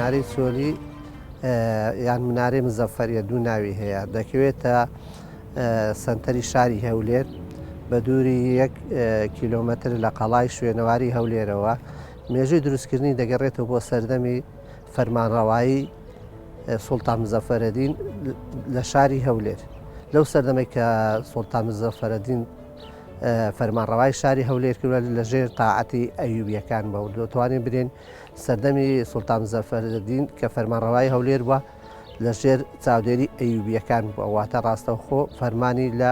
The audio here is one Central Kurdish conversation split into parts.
منارەی چۆلی یان منارەی مزەفەریە دوو ناوی هەیە دەکەوێتە سنتەری شاری هەولێر بە دووری یەک کیلومتر لە قەڵای شوێنەواری هەولێرەوە مێژوی دروستکردنی دەگەڕێتەوە بۆ سەردەمی فەرمانڕەوایی سوڵتان مزەفەرەدین لە شاری هەولێر لەو سەردەمەی کە سوڵتان مزەفەرەدین فەرمانڕەوای شاری هەولێر کردوە لە ژێر تاعەتی ئەیوبیەکان بە دەتوانین برێن سەردەمی سوڵتان زەفەردین کە فەرمانڕەوای هەولێر بووە لە ژێر چاودێری ئەیوبیەکان بووە واتە ڕاستەوخۆ فەرمانی لە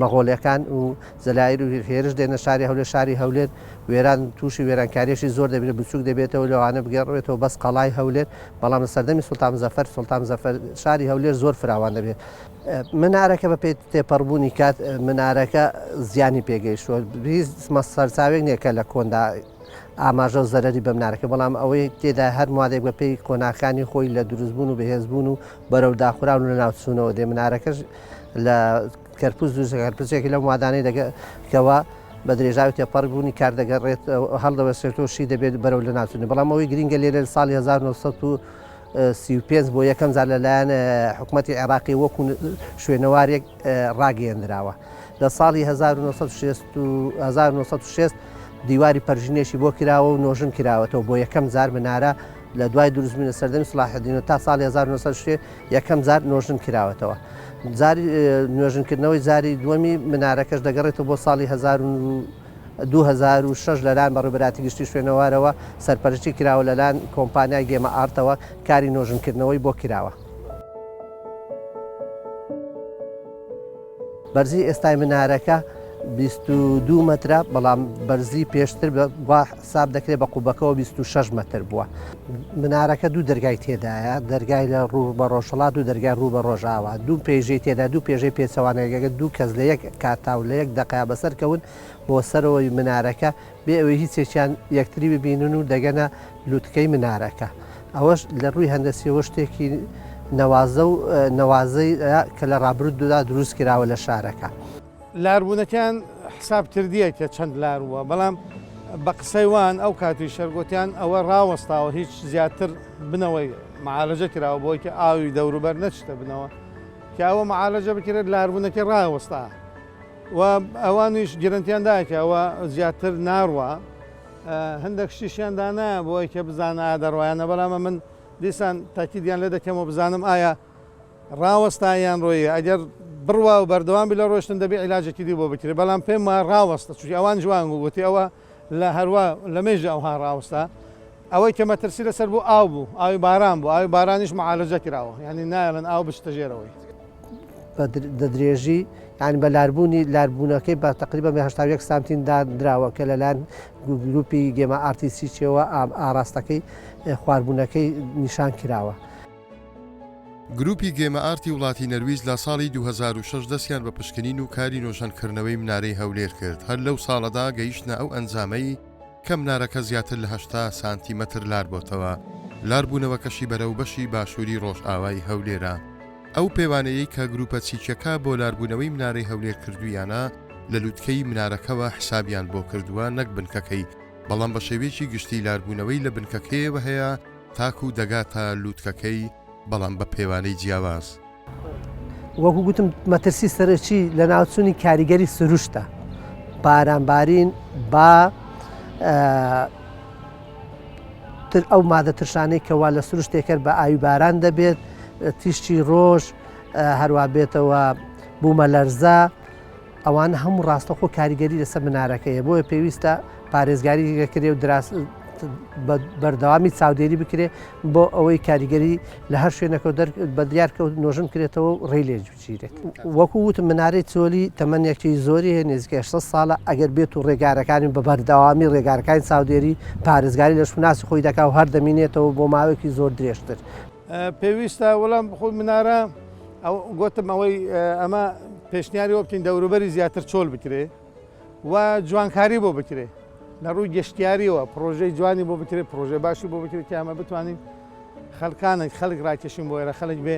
مەغۆلەکان و جەلائیر و هێرش دێنە شاری هەولێر شاری هەولێر وێران توشی وێرانکاریەکی زۆر دەبێت بچوک دەبێتەوە لەوانە بگەڕێتەوە بەس قەڵای هەولێر بەڵام لە سەردەمی سلتان مزەفەر سلتان مزەفەر شاری هەولێر زۆر فراوان دەبێت منارەکە بە پێی تێپەڕبوونی کات منارەکە زیانی پێگەیشتوە مە سەرچاوێک نییە کە لە کۆندا ئاماژە و زەرری بەمنارەکە بەڵام ئەوەی تێدا هەر مادێک بە پێی کۆناکانی خۆی لە دروستبوون و بەهێزبوون و بەرەو داخراون و لەناو چوونەوە دێ منارەکەش لە کەرپوز دوو زەگەرپزێکی لەو مادانەی دەگەکەوە بە درێژاوی تێپەڕبوونی کار دەگەڕێت هەڵدەوەسێتەوە شی دەبێت بەرەو لە ناچنی بەڵام ئەوەی گرنگە لێرە ساڵی 1935 بۆ یەکەم زار لەلایەن حکوومەتتی عێراقی وەکو شوێنەوارێک ڕاگەیەندراوە لە ساڵی 1960 دیواری پەرژینێکی بۆ کراوە و نۆژن کراوەتەوە بۆ یەکەم زار منارە لە دوای دروستبووی لە سەردەمی سڵاحدینەوە تا ساڵی 1960 یەکەم جار نۆژن کراوەتەوە جاری نوێژنکردنەوەی جاری دووەمی منارەکەش دەگەڕێتەوە بۆ ساڵی 2006 لەلاەن بە ڕێبراتی گشتی شوێنەوارەوە سەرپەرشتی کراوە لەلاەن کۆمپانیای گێمە ئارتەوە کاری نۆژنکردنەوەی بۆ کراوە. بەرزی ئێستای منارەکە بیست و دوو مەترە، بەڵام بەرزی پێشتر وا حساب دەکرێت بە قوبەکەوە بیست و شەش مەتر بووە. منارەکە دوو دەرگای تێدایە، دەرگای لە ڕوو بە ڕۆژهەڵات و دەرگای ڕوو بە ڕۆژاوا. دوو پێژەی تێدایە، دوو پێژەی پێچەوانەی. ئەگەر دوو کەس لە یەک کاتا و لە یەک دەقە بەسەر کەون بۆ سەرەوەی منارەکە، بێ ئەوەی هیچ یەکیان یەکتری ببینن و دەگەنە لوتکەی منارەکە ئەوەش لە ڕووی هەندەسیەوە شتێکی نەوازە و نەوازەی کە لە ڕابرود دودا دروست کراوە لە شارەکە. لاربوونەکەیان حساب کردیە کە چەند لار بووە بەڵام بە قسەی وان ئەو کاتی شەر گۆتیان ئەوە ڕاوەستاوە هیچ زیاتر بنەوەی معالەجە کراوە بۆی کە ئاوی دەوروبەر نەچتە بنەوە کە ئەوە معالەجە بکرێت لاربوونەکە ڕاوەستا. و ئەوانیش گرنتیان دایە کە ئەوە زیاتر ناڕوا هەندێک شتیشیان دانایە بۆ ئەوی کە بزانە ئایا دەڕوایانە بەڵامە من دیسان تاکیدیان لێ دەکەمەوە بزانم ئایا ڕاوەستا یان ڕۆیە ئەگەر بڕوا و بەردەوام بی لە ڕۆشتن دەبێ عیلاجێکی دی بۆ بکرێت بەڵام پێم وایە ڕاوەستە چونکی ئەوان جوان گوتی ئەوە لە هەروا لە مێژە ئەوها ڕاوستا ئەوەی کە مەترسی لەسەر بوو ئاو بوو ئاوی باران بوو ئاوی بارانیش معالەجە کراوە یعنی نایەڵن ئاو بچتە ژێرەوەی دەدرێژی یان بە لاربوونی لاربوونەکەی بە تقریبا بە هشتا یەک سانتین دادراوە کە لەلاەن گروپی گێمە ئارتیسیچەوە ئاراستەکەی خواربوونەکەی نیشان کراوە. گروپی گێمە ئارتی وڵاتی نەرویج لە ساڵی 2006 دەستیان بە پشکنین و کاری نۆژەنکردنەوەی منارەی هەولێر کرد هەر لەو ساڵەدا گەیشتە ئەو ئەنجامەی کە منارەکە زیاتر لە هەشتا سانتیمەتر لار بۆتەوە لاربوونەوەکەشی بەرەو بەشی باشووری ڕۆژئاوای هەولێرە ئەو پێوانەیەی کە گروپە چیچەکە بۆ لاربوونەوەی منارەی هەولێر کردویانە لە لوتکەی منارەکەەوە حسابیان بۆ کردووە نەک بنکەکەی بەڵام بە شێوەیەکی گشتی لاربوونەوەی لە بنکەکەیەوە هەیە تاکو دەگاتە لوتکەکەی بەڵام بە پێوانەی جیاواز. وەکو گوتم مەترسی سەرەکی لە ناوچوونی کاریگەری سروشتە بارانبارین با تر ئەو مادە ترشانەی کەوا لە سروشتێکەر بە ئاوی باران دەبێت تیشتی ڕۆژ هەروە بێتەوە بوومە لەرزە ئەوانە هەموو ڕاستەوخۆ کاریگەری لەسەر منارەکە هەیە بۆیە پێویستە پارێزگاری لەکرێ و بەردەوامی چاودێری بکرێ بۆ ئەوەی کاریگەری لە هەر شوێنەکە بە دیارکەوت نۆژن کرێتەوە و ڕێ لێ جوچیرێت وەکو وت منارەی چۆلی تەمەنێکی زۆری هەیە نزیکە 6 ساڵە ئەگەر بێت و ڕێگارەکانی بە بەردەوامی ڕێگارەکانی چاودێری پارێزگاری لە شوناسی خۆی دەکا و هەردەمینێتەوە بۆ ماوەێکی زۆر درێژتر پێویستە وەڵام بخۆی منارە گوتم ئەوەی ئەمە پێشنیاری وە بکەین دەوروبەری زیاتر چۆل بکرێ و جوانکاری بۆ بکرێ لە ڕووی گەشتیاریەوە پرۆژەی جوانی بۆ بکرێت پرۆژێ باشی بۆ بکرێت کە ئەمە بتوانین خەلکانێک خەلک ڕاکێشین بۆ ئێرە خەلک بێ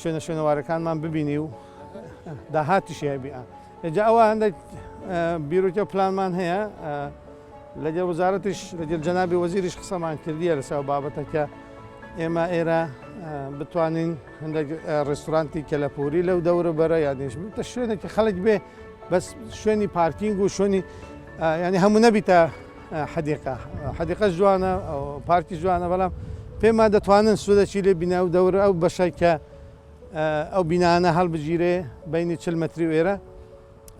شوێنە شوێنەوارەکانمان ببینی و داهاتیشی هەبیە ئەجا ئەوە هەندێک بیرۆکە پلانمان هەیە لەگەڵ وزارەتیش لەگەڵ جەنابی وەزیریش قسەمان کردیە لەسەر ئەو بابەتە کە ئێمە ئێرە بتوانین هەندێک ڕێستورانتی کەلەپوری لەو دەورە بەرە یادیش بتە شوێنێکی خەڵک بێ بەس شوێنی پارکینگ و شوێنی ینی هەموو نەبیتە حەدیقا حەدیقە جوانە پارکی جوانە بەڵام پێما دەتوانن سوودەچی لێ بینە و دەورە ئەو بەشای کە ئەو بینانە هەڵبگیرێ بینی چل مەتری وێرە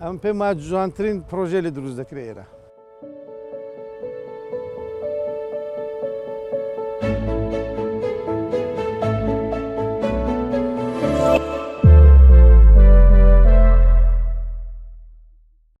ئەمن پێم وایە جوانترین پرۆژەیە لێ دروست دەکرێ ئێرە.